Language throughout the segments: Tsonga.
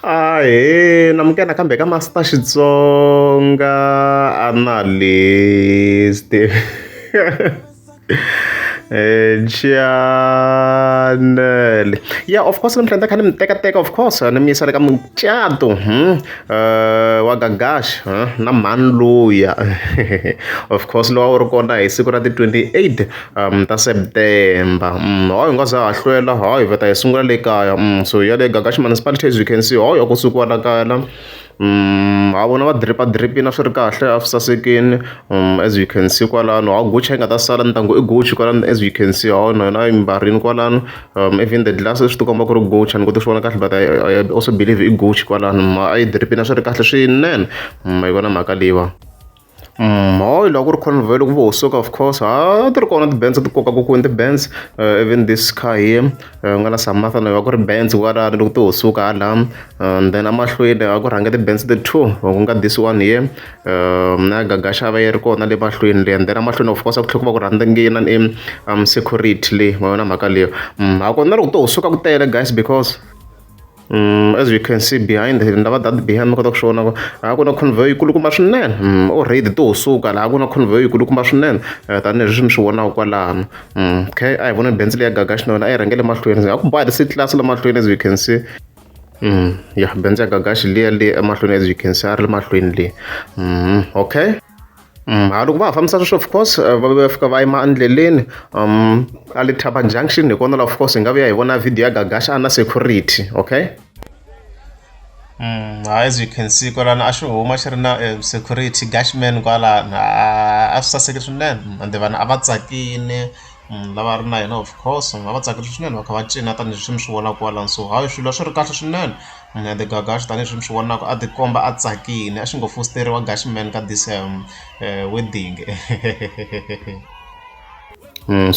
Ahee namukela kambe ka Master Xitsonga analyst chanel yeah of course namhlanje kha nimtekateka of course ni mi yisa le ka mucato hmm? uh, wa gagash huh? na mhani luya of course lowa u ri kona hi siku ra ti 28 ta September hayi hi nga za ha hlwela hayi hi ta yi sungula le kaya so ya le Gagax Municipality as you can see hayi a ku sukiwa la kaya la ha vona va drip-a drip-ini a swi ri kahle a swi sasekini as you can see kwalano hawu Gucci a yi nga ta sala ni ta ku i Gucci kwalano as you can see hawu na yona a yi mbarile kwalano even the glasses swi ti komba ku ri Gucci a ni koti ku swi vona kahle but I I also believe i Gucci kwalano a yi drip-ini a swi ri kahle swinene ma yi vona mhaka leyiwani. hi laha ku ri Convert ku vo Soak of course a ti ri kona ti-bands a ti kokaku kwini ti-bands even this kha hi ku nga na Samatha na yo a ku ri bands kwalano loko to ho suka hala and then emahlweni a ku rhange ti-bands ti two ku nga this one here na Gaga Xava yi ri kona le mahlweni le and then emahlweni of course a ku tlhe ku va ku rhandzangina i Security leyi ma vona mhaka leyi ha kona loko to ho suka ku tele guys because. Mm, as we can see behind here ndava that behind mi kota ku swi vona ku a ku na convoy yikulukumba swinene mm, o raid to suka laha ku na convoy yikulukumba swinene eh, tanihileswi mi swi vonaka kwalano mm, okay a hi vona benzi leyi ya gaga xinona a yi rhangele mahlweni a ku ba the city class la mahlweni as we can see Mm, ya benzi ya gagaxi liya le emahlweni as you can see a ri le mahlweni le mm, okay Mm, a loko va ha fambisa sweswo of course eh, va va fika va yima endleleni um a le thaba junction hi kona la of course hi nga vuya hi vona video ya gagasha a na security okay Mm, as you can see kwalana a xi huma xi ri na eh, security gashman kwalana a swi saseke swinene mm, ende vanhu a va tsakile lava va ri na yena of course ni nga va tsakisa swinene va kha va cina tanihileswi mi swi vonaka kwalano so hayi swilo a swi ri kahle swinene and then Gagash tanihileswi mi swi vonaka a tikomba a tsakile a xi ngo fositeriwa Gagash man ka this wedding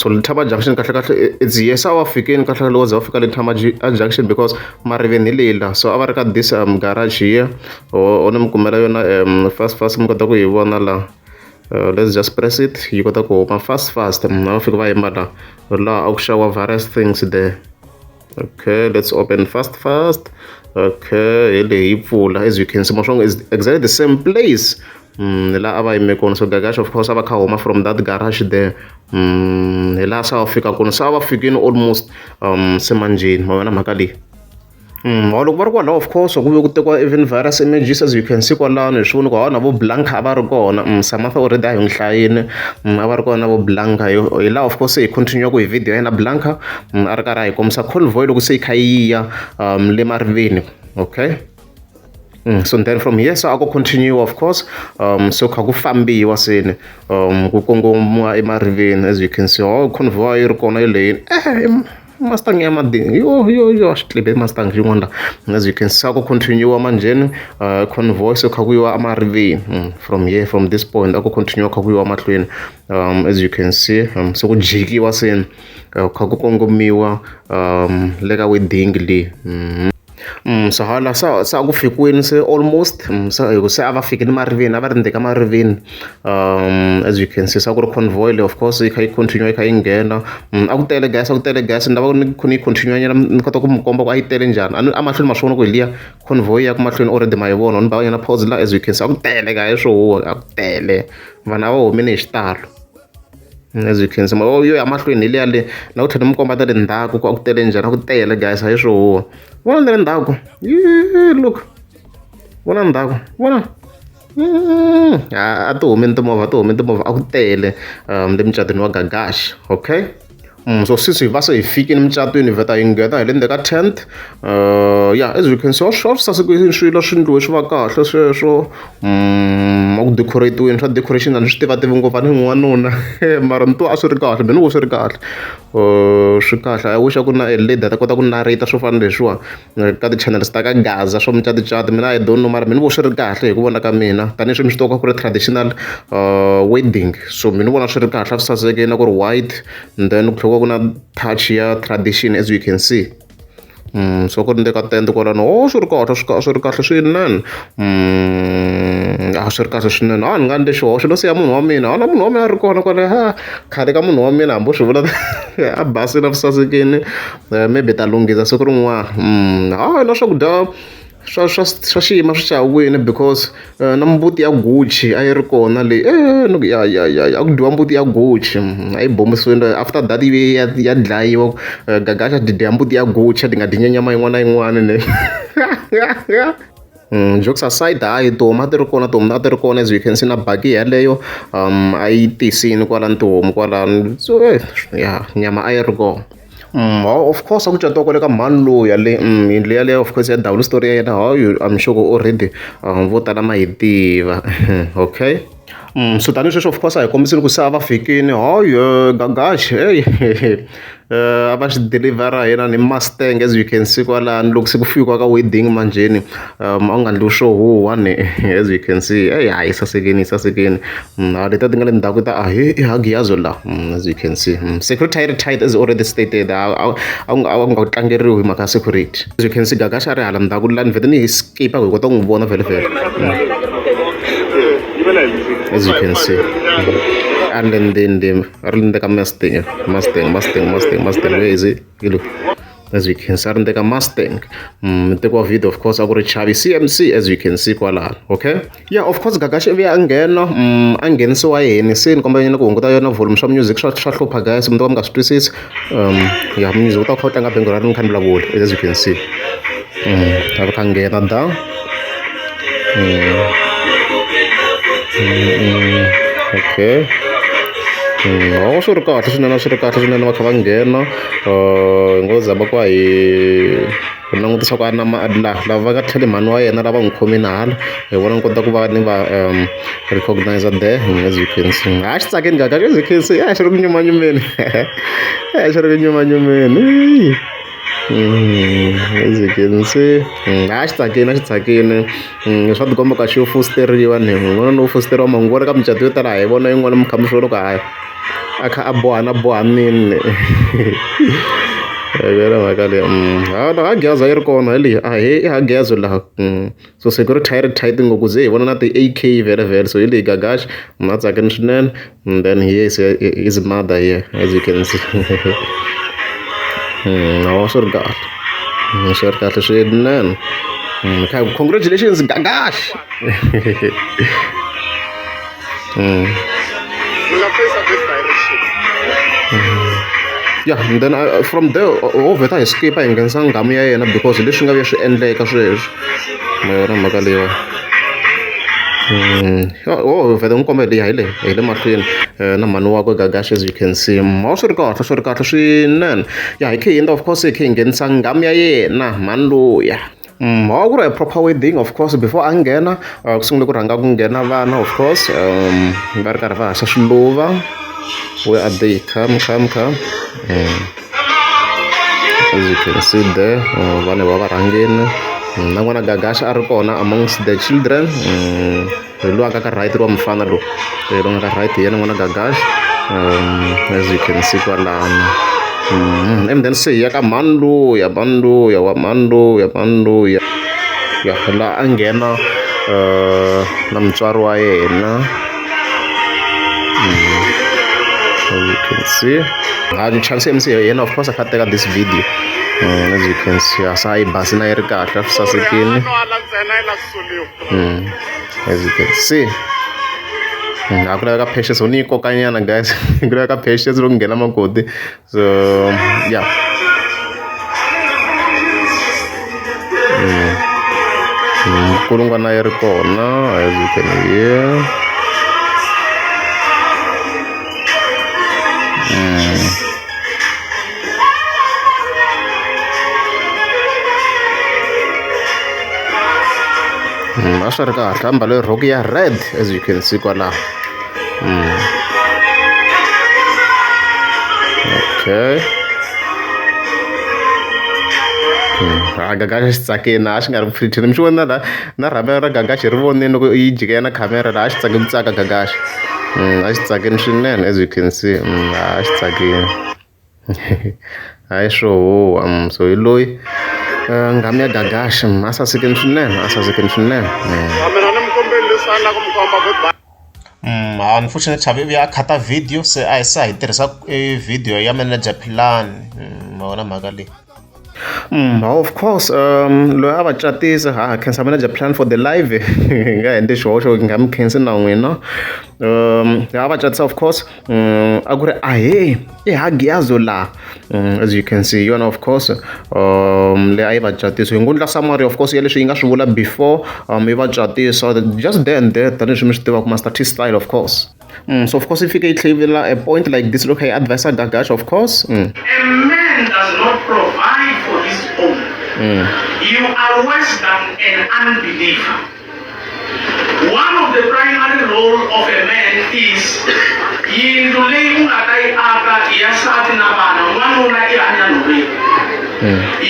so Letaba junction kahlekahle it's yes a va fikile kahlekahle loko ze va fika Letaba junction because mariveni hi leyi la so a va ri ka this garage here or ni mi kumela yona fast fast mi kota ku yi vona la. uh, let's just press it yi kota ku huma fast fast munhu a fika va yimba la laha a ku xawa various things there okay let's open fast fast okay hi leyi yi pfula as you can see maswango is exactly the same place mm, hi laha a va yime kona so gagash of course a va kha huma from that garage there mm, hi laha se a va fika kona se a va fikini almost um semanjeni ma vona mhaka leyi mholovo loko va ri kwalaho of course ku ve ku tekiwa even virus images as you can see kwalano hi swi vona ku hawa na vo Blanca a va ri kona Samata already a hi n'wi hlayini a va ri kona na vo Blanca hi hi laha of course se hi continue-aka hi video ya yena Blanca a ri karhi a hi kombisa convoy loko se yi kha yi ya le mariveni okay Mm, so then from here so a ku continue of course um so kha ku fambiwa seni um ku kongomiwa emariveni as you can see oh convoy yi ri kona yi leyini Mustang ya madini yo yo yo xitlebe Mustang xin'wana la as you can see ku continue manjheni uh, convoy so kha ku yiwa amariveni mm, from here from this point a ku continue kha ku yiwa mahlweni um, as you can see um, so ku jikiwa seni uh, kha ku kongomiwa um, le ka wedding leyi mm -hmm. swa vona se se a ku fikile se almost se hi ku se a va fike ni mariveni a va rindzele ka mariveni as you can see se a ku ri convoy leyi of course yi kha yi continue yi kha yi nghena a ku tele gas a ku tele gas ni lava ku ni kha ni yi continue nyana ni kota ku mi komba ku a yi tele njhani a ni a mahlweni ma swi vona ku hi liya convoy ya ku mahlweni already ma yi vona ni ba va nyana pause la as you can see a ku tele ka hi swo huhwa a ku tele vanhu a va humile hi xitalo. Byi khensa mara yo ya mahlweni hi liya le na ku tlhela mi komba ta le ndzhaku ku a ku tele njhani a ku tele guys a hi swi huwa vona na le ndzhaku look vona ndzhaku vona a ti humi ni timovha ti humi timovha a ku tele le mucatwini wa gagax okay. so since hi va se hi fikile mucatwini hi vheta hi nghena hi le ndzeni ka tent uh, ya as you can see swa swi sasekile swilo swi ndliwe swi va kahle sweswo um ku decoratiweni swa decoration a ni swi tiva tivi ngopfu a ni n'wanuna mara ni twa a swi ri kahle mina ku swi ri kahle uh, swi kahle i wish a ku na a lady a ta kota ku narrata swo fana leswiwa ka ti-channels ta ka gaza swa mucato mina I don't know mara me ni vona swi ri kahle hi ku vona ka mina tanihileswi mi swi tivaka ku ri traditional wedding so mi ni vona swi ri kahle a swi sasekile na ku ri white and then ku tlhela ku na touch ya tradition as you can see Mm, so ku ri ndeka tende kwalano o oh, swi ri kahle swi swi ri kahle swinene mm, a ah, swi ri kahle swinene a ah, ni nga ni xihoxo no siya munhu wa mina a na munhu wa mina a ri kona kwale ha khale ka munhu wa mina hambi u swi vula a basile a ri sasekile Eh, maybe ta lunghisa siku rin'wana mm, a na swakudya swa swa swa xiyima swi chawini because eh, na mbuti ya gucci a yi ri kona leyi e eh, ni ya ya ya a ku dyiwa mbuti ya gucci mm, a yi bombisiwile after that yi ya ya dlayiwa gagaxa ti dya mbuti ya gucci ti nga dyi nyama yin'wana na yin'wana ne Mm, jokes aside hayi tihomu a ti ri kona tihomu a ti ri kona as we can see na baki yeleyo um a yi tisini kwalani tihomu kwalani so ya nyama a yi ri kona Hawa of course a ku catiwa kwale ka mhani luya le yindlu yaleyo of course ya ndhawu ni switori ya yena hawu I'm sure ku already vo tala ma yi tiva okay so tanihi sweswi of course a hi kombisile ku se a va fikile Gagash heyi a va xi dilivhara hina ni mustang as you can see kwalano loko se ku fikiwa ka wedding manjheni. um a wu nga ndli swo huhwa ni as you can see eyi hayi yi sasekini yi sasekini mm, a leta ti nga le ndhaku ta a hi i hagiyazo la mm, as you can see mm, security yi ri tight as already stated a a wu nga tlangeriwi hi mhaka ya security as you can see gagasha a ri hala ndhaku la ni vhete ni hi skipa ku hi kota ku n'wi vona vhele vhele as you can see a ri le ndzeni a ri le ndzeni ka masting masting masting masting masting where is it Hello. as you can see a ri ndeka mustang mm, teko wa video of course a ku ri chavi cmc as you can see kwalano okay yeah of course gagashi ivi a nghena mm, a nghenisiwa yini se ni kombela nyana ku hunguta yona volume swa music swa swa hlupha guys mi ta va mi nga swi twisisi um ya music u ta kha u tlanga bengo ra ri ni kha ni vulavula as you can see mm, a ri kha nghena da okay loko swi ri kahle swinene swi ri kahle swinene va kha va nghena hi ngo zama ku va hi hi langutisa ku a na ma la lava va nga tlheli mhani wa yena lava n'wi khomile hala hi vona ni kota ku va ni va recognize the as you can see ha xi tsakile njhani as you can see a xi ri ku nyumanyumeni a xi ri ku nyumanyumeni. a xi tsakile a xi tsakile swa ti komba ku a xi yo fositeriwa ni munhu un'wana no fositeriwa mhani ni vona ka micato yo tala hi vona yin'wana mi kha mi swi vona ku hayi a kha a bohana bohanile hi yona mhaka leyi a gezi a yi ri kona hi leyi a hi i gezi laha . so security hi ri tight ngopfu ze hi vona na ti-AK vhele vhele so hi leyi gagash munhu a tsakini swinene and then he is, is mother here as you can see nawa hmm, swi ri kahle hmm, swi ri kahle swinene hmm, congratulations gagash Mm. ya and then uh, from there ovheta hi skipa hi nghenisa nghamu ya yena because leswi nga vuya swi endleka sweswi mayona mhaka leyiwa Mm. Oh, vele n'wi kombela leyi hi le hi le mahlweni eh, na mhani wakwe gagash as you can see ma swi ri kahle swi ri kahle swinene ya hi khe hi endla of course hi khe hi nghenisa nghamu ya yena mhani luya Mm, a ku ri a proper wedding of course before a nghena uh, ku sungule ku rhanga ku nghena vana of course um va ri karhi va haxa swiluva where are they come come come um, as you can see there uh, vana va varhangeni mm, na n'wana gagasha a ri kona amongst the children um, loyi a nga ka right wa mufana lowu loyi nga ka right hi yena n'wana gagax um as you can see kwalano mm-hmm. and then se hi ya ka mhani luya mhani luya wa mhani luya mhani luya ya laha a nghena um na mutswari wa yena mm-hmm. you can see a chance mc hi yena of course a kha teka this video as you can see a sa yi basi na yi ri kahle swi sasekile mm. as you can see mm, a ku laveka patience u ni yi kokanyana guys ku laveka patience loko nghena makoti so ya mm. nkulungwana yi ri kona as you can hear Mm, a swi ri kahle a mbale rhoko ya red as you can see kwalaho mm. okay mm, rhaga ka xi tsakeni a xi nga ri pretty ni mi xi vona la na rhavera ra Gagax hi ri vonile loko yi jike ya na khamera laha a xi tsake ku tsaka Gagax a xi tsakini swinene as you can see a xi tsakini hayi swo huwa so hi loyi nghamu ya Gagax a sasekini swinene a sasekini swinene Unfortunately Chavi u ya a khata video se a hi se a hi tirhisa video ya manager philani ma vona mhaka leyi. Of course loyi a va catisa ha ha khensa manager plan for the live hi nga endli xihoxo hi nga mi khensi na n'wina a va catisa of course. Mm, a ku ri ahee i hagiyazo laha mm, as you can see yona of course um leyi a yi va catisa hi ngundla summary of course ya leswi yi nga swi vula before um yi va catisa just there and there tanihileswi mi swi tivaka master t style of course mm, so of course yi fike yi tlhevela a point like this loko hi advisa gagash of course mm. a man does not provide for his own mm. you are worse than an unbeliever One of the primary role of a man is yindlu leyi u nga ta yi aka ya nsati na vana n'wanuna i hanya nhoveni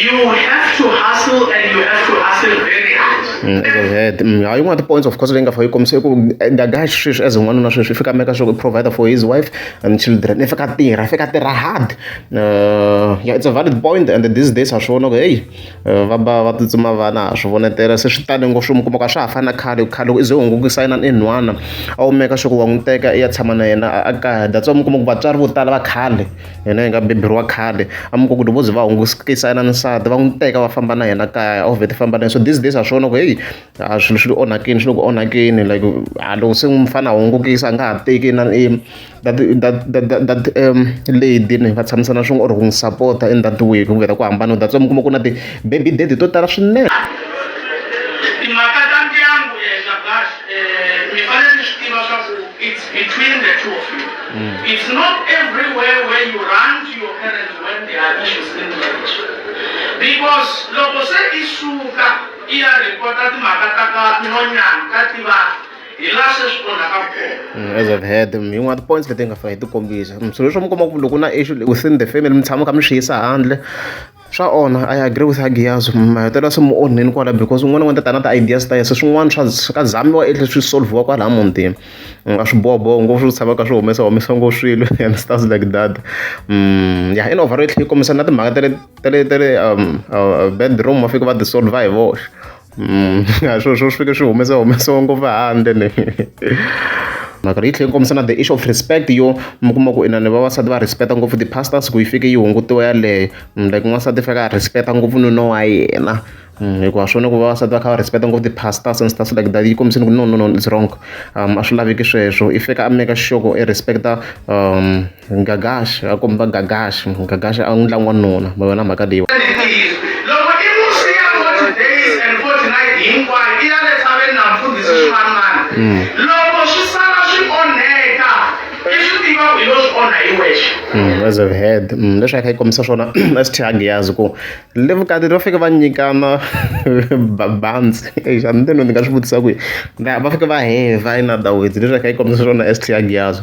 you have to hustle and you have to hustle very hard Mm, as I've heard. Mm, yeah, yin'wana ti-points of course leyi nga fa yi kombisa i ku eh, the guy sweswi as n'wanuna sweswi i fika meka sure provider for his wife and children i fika tirha i fika tirha hard uh, yeah, it's a valid point and these days ha swi vona ku heyi va ba va tsutsuma vana ha swi vonetela se swi tane ngopfu mi kuma ku a swa ha fani na khale ku khale loko u ze u hungukisa yena ni nhwana a wu meka sure ku wa n'wi teka i ya tshama na yena a kaya that's why mi kuma ku vatswari vo tala va khale hina hi nga beburiwa khale a mi ku ku loko vo ze va hungukisa yena nsati va n'wi teka va famba na yena kaya a wu vheti famba na yena so these days a swi vona ku heyi A swilo swi le onhakeni swi le ku onhakeni like a loko se mufana a hungukile se a nga ha teki na i that that that that that lady ni va tshamisana swin'we or ku n'wi sapota i that way ku vhela ku hambana that's why mi kuma ku na ti-baby daddy to tala swinene. i ya rhipota timhaka ta ka nhonyana ka tivana hi laha se swi onhaka kona Mm, as I've heard them, yin'wana ti points leti nga fa hi ti kombisa Mm, swilo leswi mi kuma ku loko na issue le- within the family mi tshama kha mi swi yisa handle swa onha i agree with agiyazo mahetelelo se mi onheni kwala because un'wana n'wana tatana ta ideas ta yese swin'wana swa swi ka zamiwa etle swi solviwa kwala mutini u nga swi boboho ngopfu swi tshama ka swi humesa humesa ngopfu swilo and stuff like that Mm, ya in overall yi tlhe yi kombisa na timhaka ta le tele tele um, uh, bedroom va fika va tisolve hi voxe mm, a swilo swo swi fike swi humesa humesiwa ngopfu handle ni mhaka leyi tlhela yi kombisa na the issue of respect yo mi kuma ku inani vavasati va respecta ngopfu ti-pastors ku yi fike yi hungutiwa yaleyo mm, like n'wansati fika a respecta ngopfu nuna wa yena mm, hikuva swona ku vavasati va kha va respecta ngopfu ti-pastors and stuff like that yi kombisini ku no no no it's wrong um a swi laveki sweswo i fika a meka xixoko i respecta um Gagaxa a komba Gagaxa Gagaxa a n'wi ndla n'wanuna ma vona mhaka leyi loko i musi ya 40 days and 40 night hinkwayo i ya le tshaveni na mfundhisi ximanimani mm. loko swi sala swi onheka i swi tiva ku yo swi onha hi wexe mm, as i've heard mm, leswi a kha yi kombisa swona sth angiyazi ku le vukati va fike va nyikana babantsi exa ni teno ni nga swi vutisa ku va fike va heva inadawizi leswi a kha yi kombisa swona sth angiyazi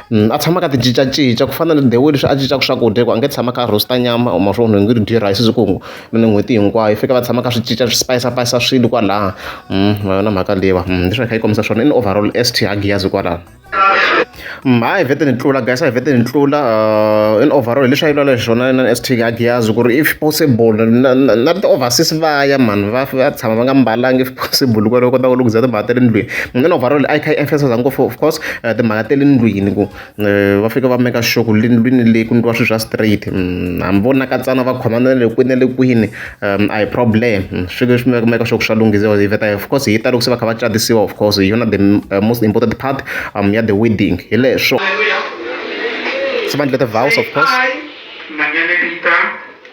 a tshama a kha a ti cincacinca ku fana na the way leswi a cincaka swakudya hikuva a nge tshami a kha a roast-a nyama or ma swi vona onge ri dye rice siku hinkwaro kumbe n'hweti hinkwayo fanekele va tshama va kha va swi cinca swi spayisapayisa swilo kwalaya ma yona mhaka leyi va leswi va hi kha hi kombisa swona i ni overall S_T ha Giyas kwalano ha hi vhete ni tlula guys a hi vhete ni tlula in overall leswi a yi lwela hi swona na S_T ha Giyas ku ri if possible na na na ti overseas va ya mani va va tshama va nga mbalanga if possible ku ri va kota ku lunghiza timhaka ta le ndlwini mina ni overall a yi kha yi emphasize ngopfu of course. timhaka ta le ndlwini ku va fika va make sure ku le ndlwini leyi ku ndliwa swilo swa straight hambi vo nakatsana va khomana na le kwini na le kwini a hi problem swi leswi mi make sure ku swa lunghisiwa hi vheta of course hi talo ku se va kha va catisiwa of course hi yona the most important part um ya the wedding hi leswo se va endla ti-vows of course.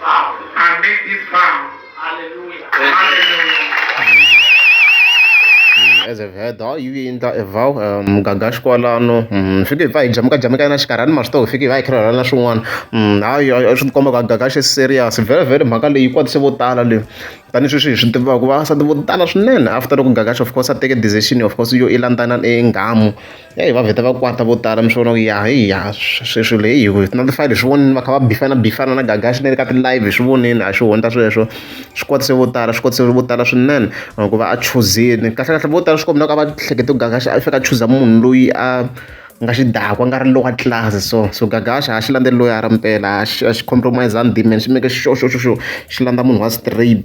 Vow. I make this vow. Hallelujah. Mm, as a vedha yi yi endla a vow um gagaxi kwalano um fike hi pfa hi jameka jameka na xikarhani ma swi tiva hi fike hi va hi khirhela na swin'wana um hayi a swi tikomba ku a gagaxi i serious vhele vhele mhaka leyi yi kwatise vo tala leyi tanihi sweswi hi swi tivaka vasati vo tala swinene after loko gagaxi of course a teke decision of course yo i landzana e nghamu Heyi va vheta va kwata vo tala mi swi vona ku ya hi ya swi swilo heyi hi ti notify-a hi swi vonile va kha va bifana bifana na Gagash na le ka ti-live hi swi vonile a xi hundza sweswo swi kwatise vo tala swi kwatise vo tala swinene ku va a chuzini kahlekahle vo tala swi kombela ku a va hlekete ku Gagash a faneke a chuza munhu loyi a nga xidakwa a nga ri lowa tlilasi so so Gagash a xi landzeli loyara mpela a xi a xi compromise-angi dimeni xi make sure sure sure sure xi landza munhu wa straight .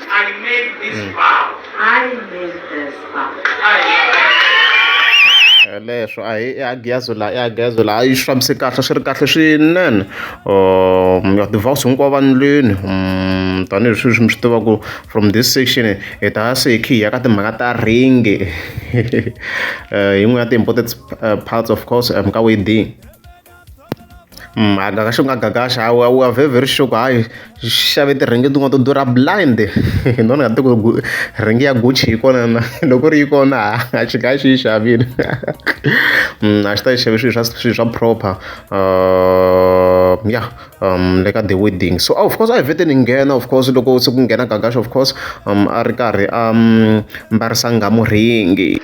I made this mm. vow. I made this vow. leswo a hi agiyazo la i agiyazo la a yi swi fambise kahle swi ri kahle swinene um ya devouse hinkwavo vanilweni um tanihi swi swi mi swi tivaku from this section hi ta ya se hi khe hi ya ka timhaka ta ringi yin'we ya ti-important parts of course um ka wedding mhaka ka xingagagaxa a wu a wu a very very sure ku hayi xi xave ti-ring tin'wana to durha blind hi ni nga tivi ku ring ya Gucci yi kona na loko ri yi kona ha xi nga xi yi xavile a xi ta yi xave swilo swa swilo swa proper ya le ka the wedding so of course a hi vhete ni nghena of course loko se ku nghena gagaxa of course a ri karhi a mbarisa nghamu rhingi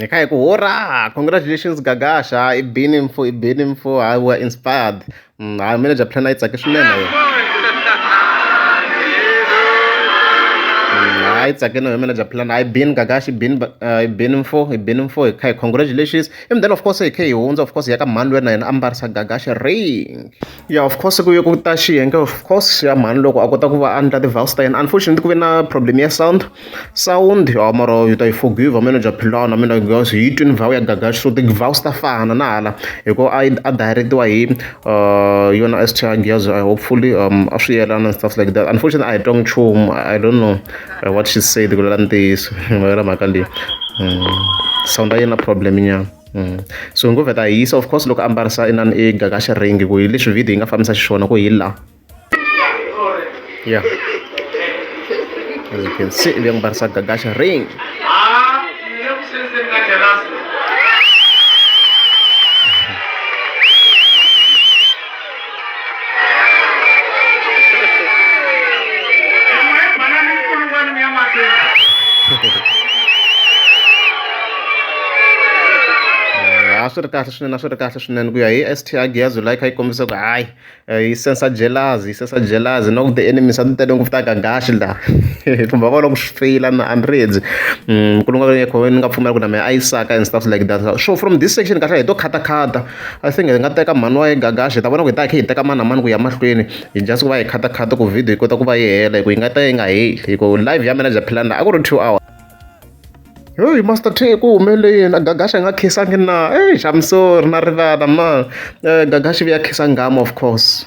ni kha hi ku hora congratulations gagasha i bini mfo i bini mfo i were inspired mm, hayi manager plan a yi tsake swinene yo mm, hayi tsakeni hi manager plan hayi bin gagashi bin uh, bin mfo hi bin mfo hi kha hi congratulations and then of course hi khe hi hundza of course hi ya ka mhani lwena yena a mbarisa gagaxa ring ya of course ku ye ku ta xiyenge of course ya mhani loko a kota ku va a ndla ti-vows ta yena unfortunately ku ve na problem ya sound sound ya mara yi ta yi forgive manager philana mina because hi yi twini vow ya gagaxa so ti-vows ta fana na hala hikuva a a direct-iwa hi uh, yona s changiyazo hopefully um a swi yelana and stuff like that unfortunately i don't nchumu i don't know uh, what she said ku lala ntiyiso mavela mhaka leyi mm. sound a yi na problem nyana mm. so ngo vheta hi yisa of course loko a mbarisa inani e gaga xi ringi ku hi leswi video yi nga fambisa xiswona ku hi la yeah as you can see vya mbarisa gaga xi ringi a swi ri kahle swinene a swi ri kahle swinene ku ya hi s t a giyazo like yi kombisa ku hayi eh, yi sensa jelazi yi sensa jelazi na ku the enemy swa titele ngopfu ta gagaxi la kumbe va kona ku swi feyila na andrezi mm, nkulu nga ni nga pfumela ku na mehe a yi saka and stuff like that so from this section kahle hi to khatakhata A senge hi nga teka mhani wa Gagash hi ta vona ku hi ta hi kha hi teka mani na mani ku ya mahlweni hi just ku va hi khatakhata ku video yi kota ku va yi hela hi ku yi nga ta yi nga heli hi ku live ya mina bya philani laha a ku ri two hours heyi master t ku humelele yini a gagasha nga khisanga na eyi I'm sorry na rivala ma eh, gagashi vuya khisa ngama of course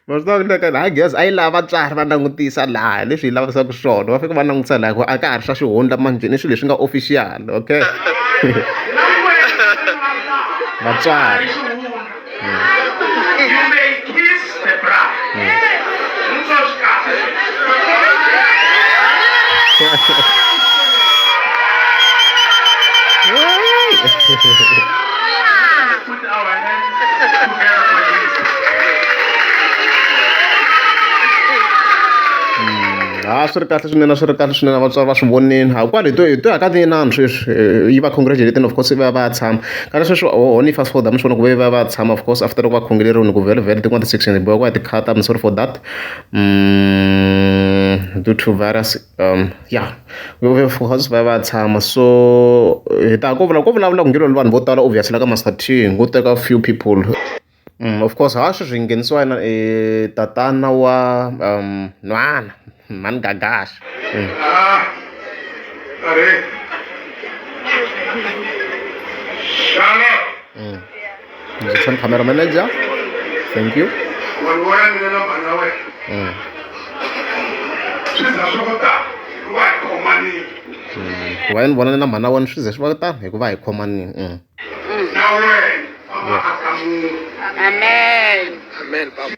Ma swi tiva leswaku laha gezi a yi lava vatswari va langutisa laha hi leswi hi lavisaka swona va faneke va langutisa laha hikuva a ka ha ri swa xihundla manjheni i swilo leswi nga official okay vatswari ha swi ri kahle swinene swi ri kahle swinene vatswari va swi vonile ha kwale hi to hi to ya ka tinani sweswi yi va congratulating of course va va tshama kana sweswi ho ni fast forward mi swi vona ku ve va va tshama of course after loko va khongeleriwini ku vhele vhele tin'wana ti-section hi bohiwa ku ya ti-cut I'm sorry for that due to virus. um ya coz va ya va ya tshama so hi ta ya ko vula ko vulavula ku nge lwela vanhu vo tala obviously la ka Master T ko teka few people of course ha sweswi hi nghenisiwa yena tatana wa um nhwana mhani Gagash Shut up. Ngizokushona camera manager. Thank you. Wena wena mina na mhana wena. Mm. Swi za swi ku ta wa hi khomanile. Ku va ni vona na mhana wena swi ze swi va ta hikuva hi khomanile. Mm. Na wena. Amen. Amen. Amen.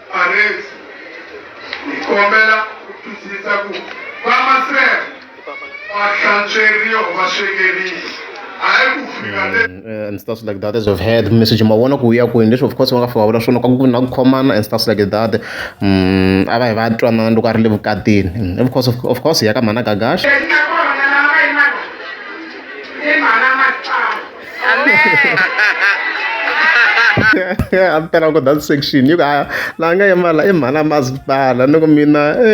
Parents, hi kombela ku twisisa ku vamaseve va hlantsweriwa va swekerisa hayi ku fika le Mm, eh, and stuff like that as we've heard message mavona ku ya kwini leswi of course va nga fika va vula swona ka ku na ku khomana and stuff like that Mm, a va hi va twanana loko a ri le vukatini Mm, of course of course hi ya ka mhana gagaxa Yes, a ni talanga ku that section yi ku a la nga yimala i mhana masipala ni ku mina e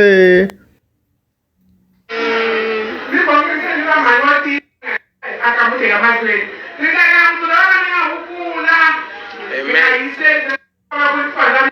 Amen.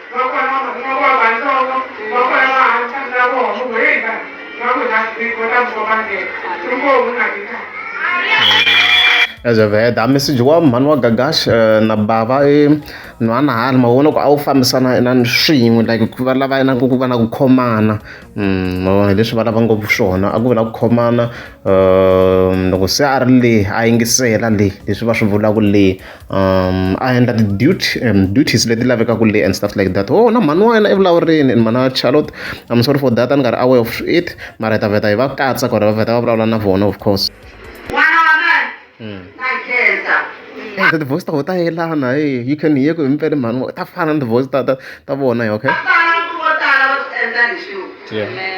aza avy ay da message wa mano wa gagash eh, na bava e eh, no ana hali mavona ku a wu fambisana inani swin'we like ku va lava inani ku va na ku khomana mm, mavona leswi va lava ngopfu swona a ku vula ku khomana eh, loko se a ri le a yingisela le leswi va swi vulaka le um a endla ti-duty um duties leti lavekaka le and stuff like that oh na mhani wa yena evulavureni and mhani wa charlotte i'm sorry for that a ni nga ri aware of it mara hi ta vheta hi va katsa ku ri va vheta va vulavula na vona of course the hmm. voice ta ho ta yelana e you can hear ku himpele mhani ta fana ni voice ta ta ta vona yo okay Yeah.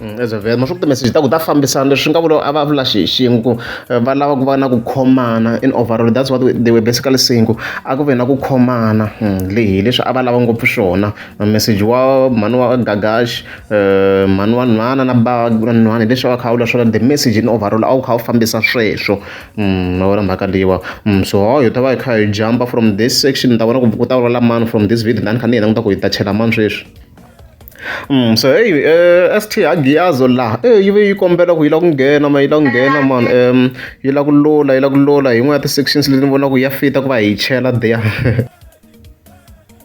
Mm, as a vet ma swi ku timessage ta ku ta fambisana leswi nga vula a va vula xi xin'we ku eh, va lava ku va na ku khomana in overall that's what they were basically saying ku a ku ve na ku khomana mm, lehi leswi a va lava ngopfu swona message wa mhani wa gagash eh, mhani wa nhwana na ba nhwana hi leswi a va kha a vula swona the message in overall a wu kha wu fambisa sweswo Mm, wona mhaka leyiwa mm, so ho hi ta va hi kha hi jumpa from this section ni ta vona ku ku ta vulavula mani from this video tani kha ni hina ni ta ku hi ta chela mani sweswi Mm, so hey uh, eh, ST Agiazo la eh yi ve yi kombela ku yi la ku nghena ma yi la ku nghena man um yi la ku lula yi la ku lula hi n'we ya ti-sections leti ni vonaka ya fita ku va hi chela there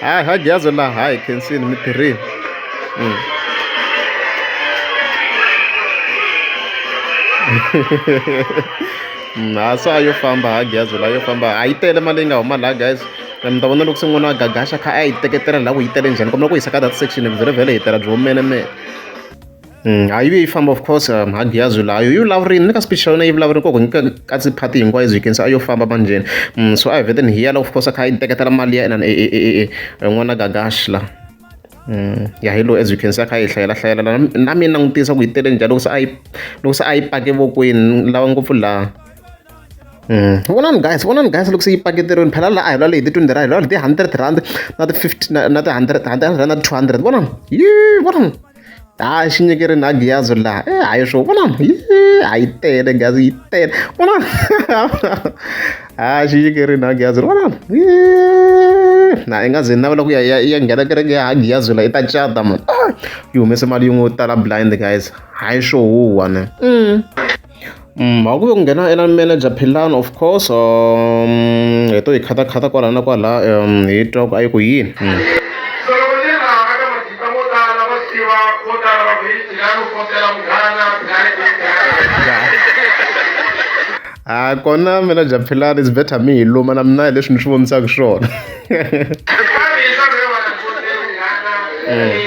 hayi ha gyazo laha hayi khensini mi tirhile mm. mm, ha so a yo famba ha gyazo laha yo famba a yi tele mali yi nga huma laha guys mi ta vona loko se n'wana wa gagaxa kha a yi teketela laha ku yi tele njhani kombela ku yisa ka that section vhele vhele hi tela byi humenemene Mm, hayi yi famba of course um, hagiyazi layo yi vulavurini ni ka speech xa yona yi vulavurini koko nyika katsi party hinkwayo byi kenisa a yo famba manjheni um mm, so a hi veteni hi yala of course a kha yi teketela mali ya inani n'wana gagash la um ya hi lowu as you can se a kha yi hlayela hlayela la na mina langutisa ku yi tele njhani loko se a yi loko se a yi pake vokweni lava ngopfu laha Mm. vonani guys vonani guys loko se yi paketeriweni phela laha a hi lwale hi ti-twenty rand hi lwale hi ti-hundred rand na ti-fifty na ti-hundred hundred rand na ti-two hundred vonani yi vonani hayi xi nyikeri na giyazi laha e hayi swo vona a yi tele giyazi yi tele vona hayi xi nyikeri na giyazi vona na i nga ze navela ku ya ya nghena kereke ya giyazi la i ta cata mani yi humese mali yin'we yo tala blind guys hayi swo huwa ne mm. Mm, a ku ve ku nghena ela manager philani of course um hi to hi khatakhata kwala na kwala um hi twa ku a yi ku yini mm. a ah, kona manager philani is better mi hi luma na mina hi leswi ni swi vonisaka swona mm.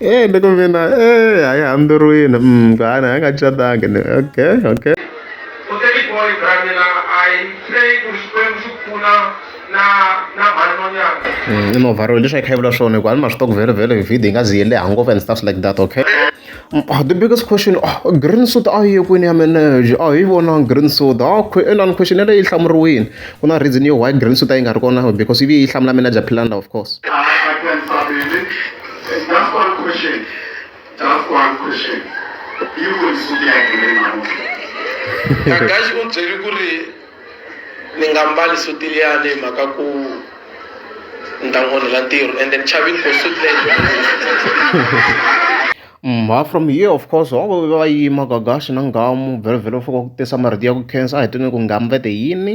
Eh, niko mina eh hayi hambirwini mm gana ha nga catanga ni okay okay kutani boy bramela i pray ku xikwembu xi pfuna na na mhani monyana mm i no varwele leswi a yi kha yi vula swona hikuva ni ma swi tiva ku vhele vhele vhidi yi nga zi yi leha ngopfu and stuff like that okay Ah, the biggest question ah, green soda a yi ye kwini ya meneje a hi vonangi green soda a ah, inani question yeleyo yi hlamuriwile ku na reason yo why green soda yi nga ri kona because ivi yi hlamula manager philanda of course That's one question. That's one question. Yi voni soda ya green namuntlha. Kakashi u byeri ku ri ni nga mbali suti liyani hi mhaka ku ni ta n'wi onhela ntirho and then chavini ku suti leyi mha from here of course van'wana va va yima gagaxi na ngamu vhelovhelo fika ku tisa marito ya ku khensa a hi twini ku ngamu vete yini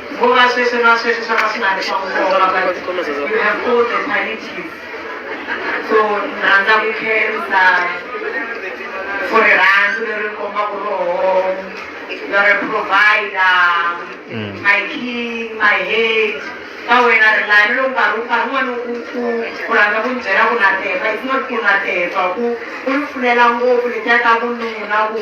Ngomasese masese sakasingabe sakuhlola but you have all the qualities. So nanda kukhensa for rirhandzu leri komba ku roho you're a provider mm. my king my head ka wena ri lani loko nkarhi nkarhi wun'wana u ku ku rhandza ku ni byela ku na teka it's not ku na teka ku u ni pfulela ngopfu letiya ta vununa ku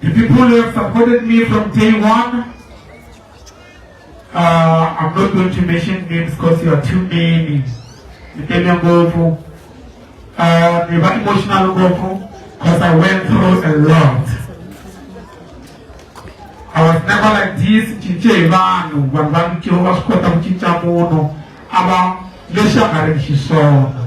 The people who have supported me from day one, uh, I'm not going to mention names because you are too many. Nitenya Ngofu, uh, they were emotional Ngofu because I went through a lot. I was never like this, cince hi vanhu, vanhu va mikiro va swi kota ku cinca munhu, a va lexi a nga ri xiswona.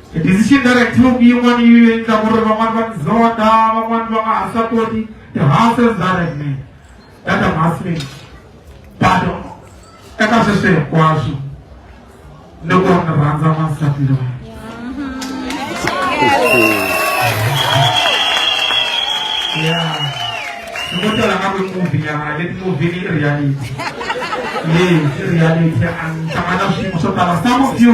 se ti si xinderek tube yin'wana yi endla ku ri van'wani va tizota van'wani va nga ha swa koti tihansi ndzarek me data masme bato eka sweswi hinkwaswo ni ku ni rhandza n'wansati loyi ya ni ko tela nga kwi muvi nyana leti muvi ni reality yes reality a ni hlangana swiyimo swo tala some of you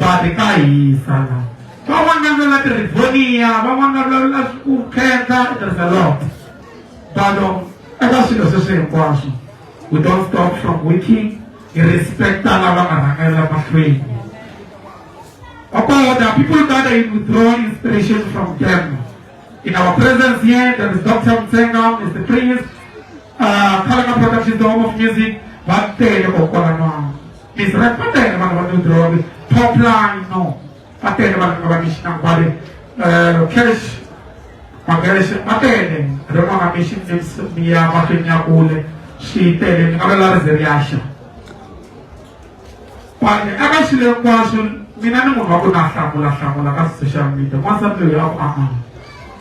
va ri ka hisa la van'wana vulavula tirivoniya van'wana vulavula ku khensa there's a lot but um, eka swilo sweswi hinkwaswo we don't stop from working hi respecta lava nga rhangela mahlweni About the people that are withdrawing inspiration from them. In our presence here, there is Dr. Mtsenga, Mr. Prince, uh, Kalaka Productions, the home of music, but they are Israel va tele vanhu va New Drewry top line no va tele vanhu nga va ni xinambale eh, cash magerexe va tele rin'wana mi xi mi ya mahlweni ya kule xi tele ni nga va la rize ri yaxa kwani eka xilo hinkwaswo mina ni munhu wa ku na hlamula hlamula ka social media n'wansati loyi a ku amana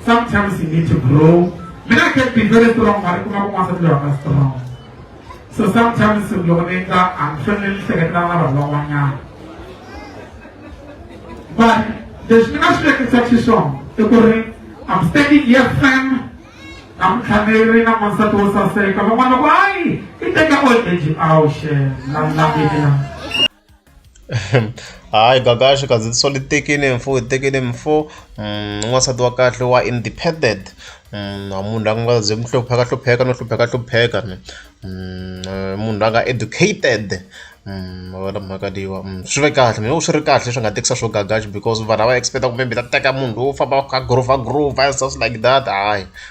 sometimes you need to grow mina I can be very strong mari ku nga ku n'wansati loyi a nga strong so sometimes loko ni endla a ni fanele ni hleketela na vanhu van'wanyana but leswi ni nga swi vekisa xiswona i ku ri I'm standing here firm namtlhaneri na n'wansati wo saseka van'wana loko hayi i teka old age awu xe la langile la Hayi Gagash kazi lisole itekeni mfo itekeni mfo un'wansati wa kahle wa independent a munhu la nga ze ni hlupheka hlupheka no hlupheka hlupheka ni munhu la nga educated ma vona mhaka leyiwa swi ve kahle mehe swi ri kahle leswi a nga tekisa swo Gagash because vanhu a va expect ku maybe u ta teka munhu loyi wo famba a kha a gorofa gorofa just like that hayi.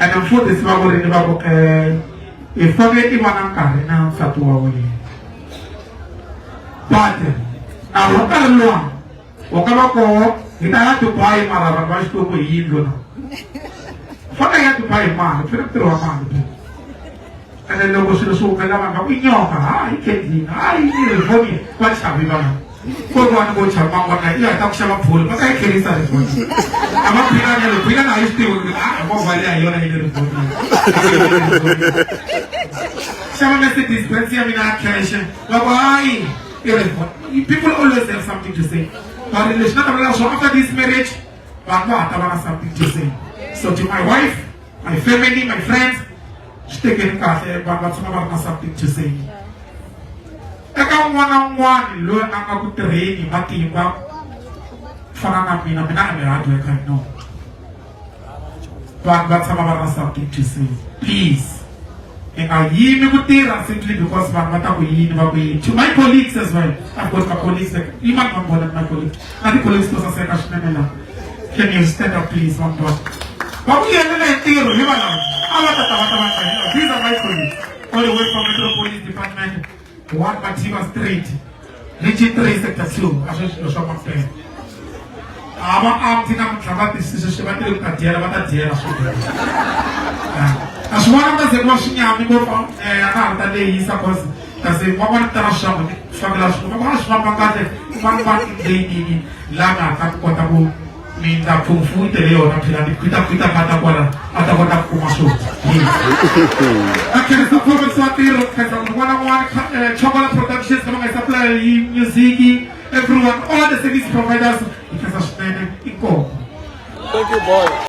ene mfundhisi va vurini va ku um hi fane i va na nkarhi na nsati wa wena but a wu nkarhi luwa wu nga va koho hi ta ya dubai mara vanhu va xikwembu hi yindlu na fane ya dubai mali fane ku tirhiwa mali ene loko swilo swi humelela vanhu va ku nyoka hayi kenzini hayi rivoni va chavi vanhu ko ri wani vo chavi van'wana na iya ta ku xava bolo va ka yi kherisa rivoni a va philana loko yi nga na yi swi tivi a movha leyi a yona yi le rivoni xava mercedes benz ya mina ya kheshe va ku hayi i rivoni people always have something to say va ri leswi na ta vulela swona after this marriage vanhu va ha ta va na something to say so to my wife My family, my friends, swi tekeni kahle vanhu va tshama va ri na something to say eka un'wana na un'wana loyi a nga ku tirheni hi matimba ku fana na mina mina a ni rhadi eka no vanhu va tshama va ri na something to say please hi nga yimi ku tirha simply because vanhu va ta ku yini va ku yini to my colleagues as well i've got my colleagues yimani va vona my colleagues na ti-colleagues to saseka swinene laha Can you stand up please, Mambos? Vakuyelela hi ntirho hi valava a va ta ta va ta va tsanela. These are my colleagues all the way from Metro Police Department, One Mativa Street, Region 3, Sector 2, a swi swilo swa mampela. A va amti namuntlha va tisise swi va tele ku ta dyela va ta dyela swinene. A swi vona va ze ku va swi nyami ngopfu eh, a nga ha ta lehisa cause kasi va va ri tala swaku ni swakela swi va va swi famba kahle va va leyinini la nga ta kota ku mindla pfumfu yi tele yona phela ni khwita khwita nga ta kwala a ta kota ku kuma swo a khensa profesa wa tirho khensa munhu wana n'wana eh, chokola productions lama nga supply yi music everyone all the service providers yi khensa swinene inkomo Thank you, boy.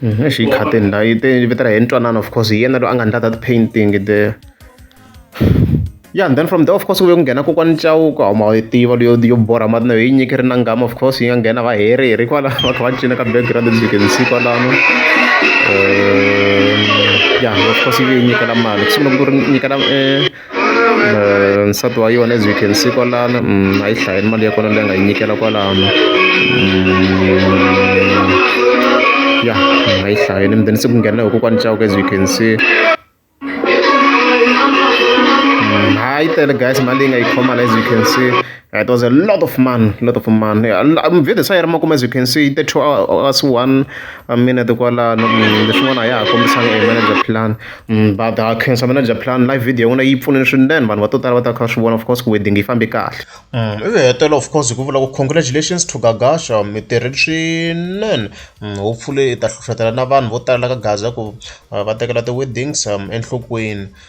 Eish yi khateni la yi te yi vitela hi ntwanano of course hi yena loyi a nga ndla that painting there ya and then from there of course ku ve ku nghena kokwani Chauke hawu ma yi tiva leyo yo borha mati na yo hi yi nyikile na nghamu of course yi nga nghena va heri heri kwala va kha va cina ka background as you can see kwalano ya of course yi ve yi nyikela mali ku sungula ku ri nyikela . Eh, nsati wa yona as you can see kwalano mm, a yi hlayeni mali ya kona leyi nga yi nyikela kwalano mm, ya a yi hlayeni mdeni se ku nghenela hi kokwani cawuka as you can see mm, ha yi tele guys mali leyi nga yi khomana as you can see It was a lot of man, a lot of man. Mvhete sa yi ri makume as you can see, 32 hours, one uh, minute kwalano. Mm, leswin'wana a ya ha kombisanga e manager plan. Mm, but uh, cancer manager plan live video yin'wana yi pfunile swinene vanhu va to tala va ta kha swi vona of course ku wedding yi fambe kahle. Mm, ivi hetela of course hi ku vula ku congratulations to Gagasha mi tirhile swinene. Hopefully i ta hlohletela na vanhu vo tala ka Gaza ku uh, va tekela ti-weddings um, enhlokweni.